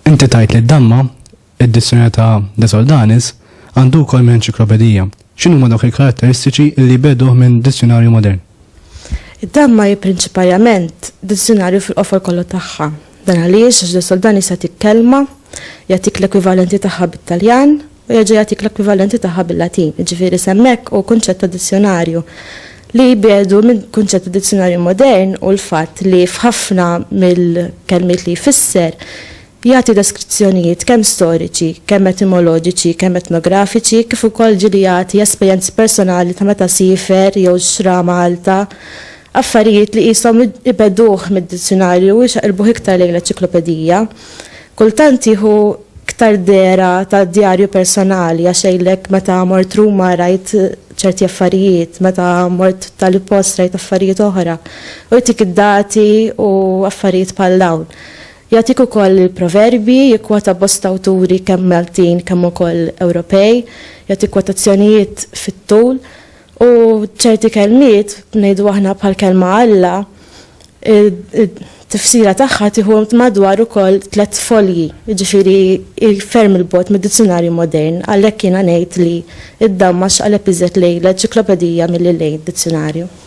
Inti tajt li d-damma, id-dissjoni ta' De Soldanis, għandu wkoll minn enċiklopedija. X'inhuma dawk il-karatteristiċi li jbegħduh minn dizzjunarju modern? Id-damma hi prinċipalament dizzjunarju fil-qofol kollu tagħha. Dan għaliex Ġdid Soldan jista' jagħtik kelma, jagħtik l-ekwivalenti tagħha bit-Taljan u jerġa' jagħtik l-ekwivalenti tagħha bil-Latin, jiġifieri s'hemmhekk hu kunċett ta' dizzjunarju li jbiegħdu minn kunċett ta' dizzjunarju modern hu l-fatt li f'ħafna mill-kelmiet li jfisser Jagħti deskrizzjonijiet kemm storiċi, kemm etimoloġiċi, kemm etnografiċi, kif ukoll ġieli jagħti esperjenzi personali ta' meta siefer jew xtra Malta, affarijiet li qishom ibegħduh mid-dizzjunarju u jxaqilbuh iktar lejn l-eċiklopedija. Kultant jieħu iktar dehra ta' djarju personali għax jgħidlek meta mort Ruma rajt ċerti affarijiet, meta mort tali post rajt affarijiet oħra, u jtik id-dati u affarijiet bħal dawn. Jagħtik ukoll il-proverbji, jikkwota bosta awturi kemm Maltin kemm ukoll Ewropej, jagħti kwotazzjonijiet fit-tul u ċerti kelmiet, ngħidu aħna bħall-kelma Alla, it-tifsira tagħha tieħu madwar ukoll tliet folji, jiġifieri hi ferm 'il bogħod mid-dizzjunarju modern, għalhekk jiena ngħid li id-damma x'qaleb iżjed lejn l-enċiklopedija milli lejn dizzjunarju.